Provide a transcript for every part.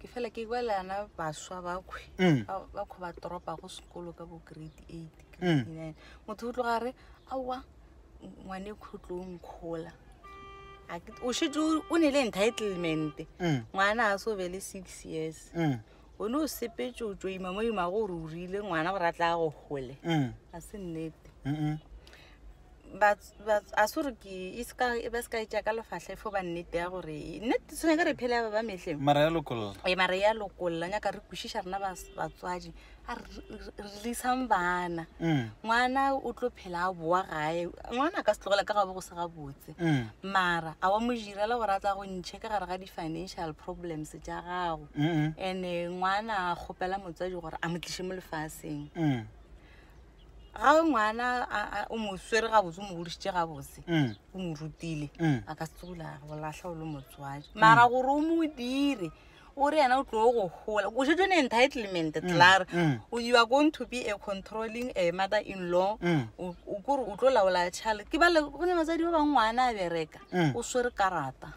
ke fela ke kwa le ana baswa bakhwi Mm. ba- bakhwi ba toropa go sekolo ka bo grade eight grade Mm. nine motho o tloga a re aowa ngwane khutlong kgola A ke- o shetse o- o ne le entitlement Mm. ngwana a se o be le six years Mm. o ne o sepetse o tšoima mo imago gore o rile ngwana gore a tla go gole Mm. ga se nnete Mm-mm. a se gore ke e seka e ba seka e tša ka lefahla e fo ba nnete ya gore nnete tshwenya ka re phele ba ba metlheng mara ya lokolla e mara ya lokolla nyaka re kwešiša rena batswadi a releasang bana mm. ngwana o tlo phela a boa gae ngwana a ka se tlogela ka ga bo go se ga botse mm. mara a wa mo jirela gore a tsa go ntšhe ka gare ga di-financial problems tša gago and-e ngwana a kgopela motswadi gore a mo tliše mo lefaseng mm. ga o ngwana a- a- o mo swere gabotse o mo godišitše gabotse Mm. o mo rutile Mm. a ka se tsola go latlha o le motswadi mara gore o mo dire o re yena o tlo go gola o šetso ne entitlement tlare mm. o you are going to be a controlling a mother in law Mm. o o kore o tlo laola tšhalete ke bale go ne batsadi ba bangwe ngwana a bereka Mm. o swere karata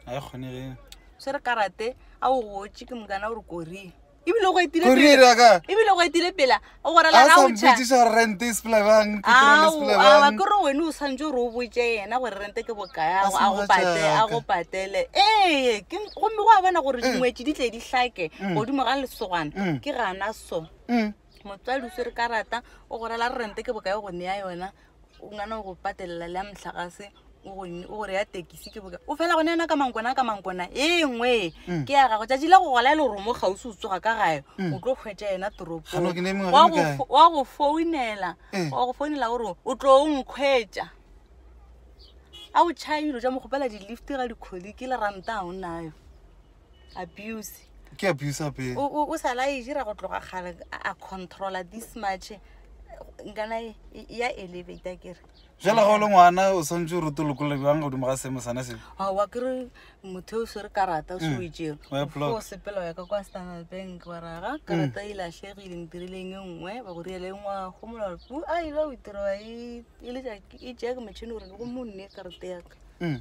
ga e kgonege swere karate a o gotse ke mokana o re korie ebile go etile Go pele. dira ka? ebile go etile pela o gore a la sa ga o tšha mpotsiša gore rent e sepela bang petrol e sepela aa bang kore wene o swantse gore o botse yena gore rente ke bokae a A go- se a go mogatša patele a ka. go patele ee ke- gomme go a bona gore dingwetši di tle di hlake godimo ga lesogana Mm. ke gana so Mm. motswadi o swere karata o go rela rente ke bokae go neya yona o ngwana o go patelela le ya motlagase o gore ya tekisi ke boka o fela gone yana ka mankona ka mankona e ngwe mm. ke ya gago tšatši la go gola e le gore mo gausi o tsoga ka gae mm. o tlo kgwetša yena toropong wa go founela eh. wa go founela gore o tlo o nkgwetša a o tšhaya dilo tša mokgopela di-lift ga dikgodi ke le ranta ga o nayo abuse ke abuse ape o o- o sa la e dira go tloga kgale a- a controla this much nkana e- e- ya elevata kere jale ga o le ngwana o swantse o rute lokolole bjang godimo ga seemo sana se aowa kere motho yo o swere karata o se o Mm. etsere Wa e block. o sepela wa ya ka kwa standard bank wa raga karata e latlhegile ntirileng e nngwe ba go riele e ngwa go mola pu a ile o itira wa e e le ja- e jake motšhini gore go monne karata yaka Mm.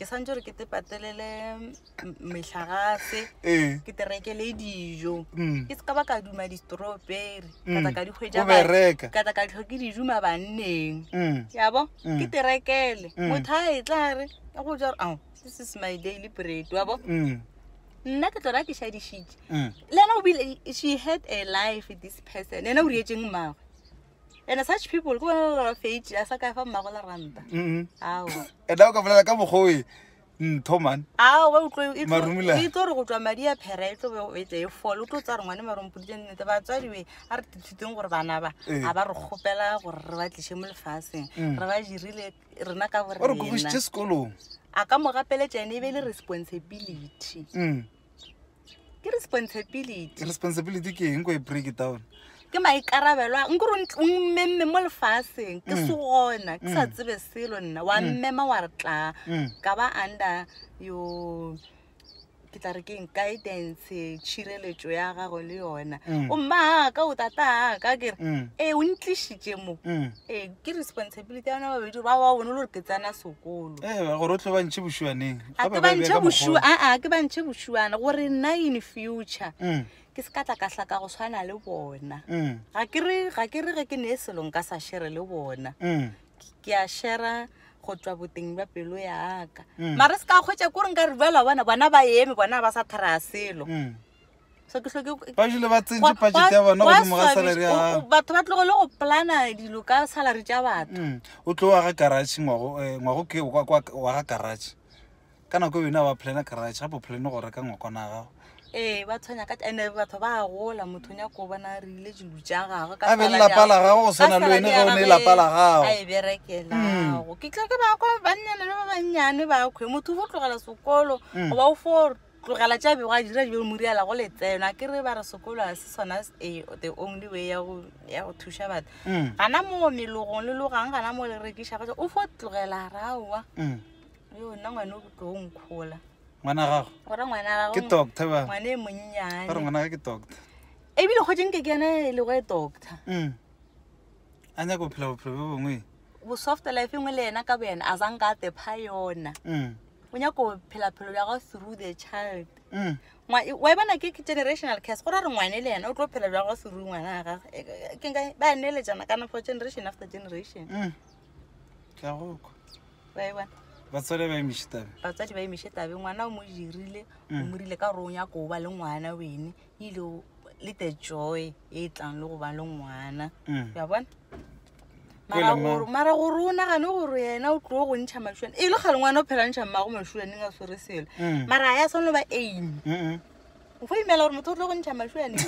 ke santse gore ke te patelele metlhagase ee ke te rekele dijo mm. ke se ka ba ka duma di-strawberry ka tla ka di o hwetša ba- bereka ka tla ka tlhoke dijuma banneng mm. yabo Mm. ke te rekele Mm. motho a e tla re e go jaro ao this is my daily bread wabo mm. nna ke tlona ke šadišitše mm. le ena o bile she had a life this person ena o rietseng mmagwe and such people ke bona ba fate a sa ka fa mmagola ranta mm-hmm. ao and o ka bolela ka mogoe ntho man ao ba utlwe e tlo re go tswa madi a phera e tlo be e tle e fole o tlo tsa re ngwane marompodile nnete batswadiwe a re tithuteng gore bana ba eh. a ba re kgopela gore re ba tlishe mo lefaseng mm. re ba dirile rena ka borenaore kogisitse sekolong a ka mo gapeletša ene e be le responsibility mm. ke responsibility responsibility ke eng ko e break down ke maikarabelo a nkore o mmemme mo lefaseng ke mm. se gona ke sa mm. tsebe selo nna wa mm. mmema wa re tla ka ba under yo ke tla re keng guidance tšhireletso ya gago le yona o mma aka o tata aka kere ee o ntlišitše mo ee ke responsibility ya ona babedi ba ba bone le gore ke tsena sekolo ee gore o tlhobantšhe bošwaneng a ke ba ntšhe bošu aa ke ba ntšhe bošuana gore nna in future mm. ke se ka tla kahla ka go tshwana le bona mm. ga ke re ga ke re ge ke ne e selong ka sa shere le bona mm. ke a shera go tswa boteng ba pelo yaka mare se ka kgwetsa ko re nka re bala bona bona ba eme bona ba sa thara selo ba jule ba tsentše budget ya bona godimo ga salary ya gago batho ba tlogole go plana dilo ka salary tša batho Mm, o tlo wa ga garage ngwago eh, ngwago ke wa- wa wa ga garage ka nako e wena wa plana garage gape o plane go reka ngwakwana ya gago ee ba tshwanya ka ande batho ba a gola motho o nyaka o bona re ile dilo tša gagwe ka A be le salary ya lapa la gagwe. gago go swana Ka le wena salary ge ya o ne gagwe lapa la gago. a e berekelago ke tla ke bako bannyane le ba bannyane bakhwe motho o fo tlogela sekolo Mm. goba o fo tlogela tša bego a dira dibeo moriala go letseno a ke re ba re sekolo a se sona eh, the only way ya go ya go thuša batho Mm. gana moo melogong le logang gana moo le rekiša batho o fo tlogela raowa Mm. yo nna ngwane o tlo o nkgola ngwana gago gore ngwana wa ke gago doctor ba ngwane e ba re monnyane ngwana ga ke doctor ebile kgotse nke ke yone e lego e doctor Mm. a nyaka go phela bophelo bo bongwe bo soft life engwe le yena ka bo yena a zang ka tepha yona mm. o nyaka go phela phelo bja gago through the child mm. wa e bona ke generational case gore a re ngwane le yena o tlo phela bja gago through ngwana a gage e, e, ke nka ba neeletsana kana for generation after generation mm. ke a goko ba e bona batswadi ba emishe tabe batswadi ba emishe tabe ngwana o mo dirile o mm. mo rile ka gore o nyako o ba le ngwana wene you know le the joy e tlang le go ba le ngwana Mm. ya bona Ko mara lema- gore- mara gore o nagane gore yena o tlo go ntšha mašuane e le kgale ngwana o phela ntšha mmago mašuaneng a swere selo Mm. mara a ya tshwanelo ba aim Mm-mm. o fo imela gore motho o tlo go ntšha mašuaneng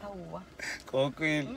aowa Kokwele.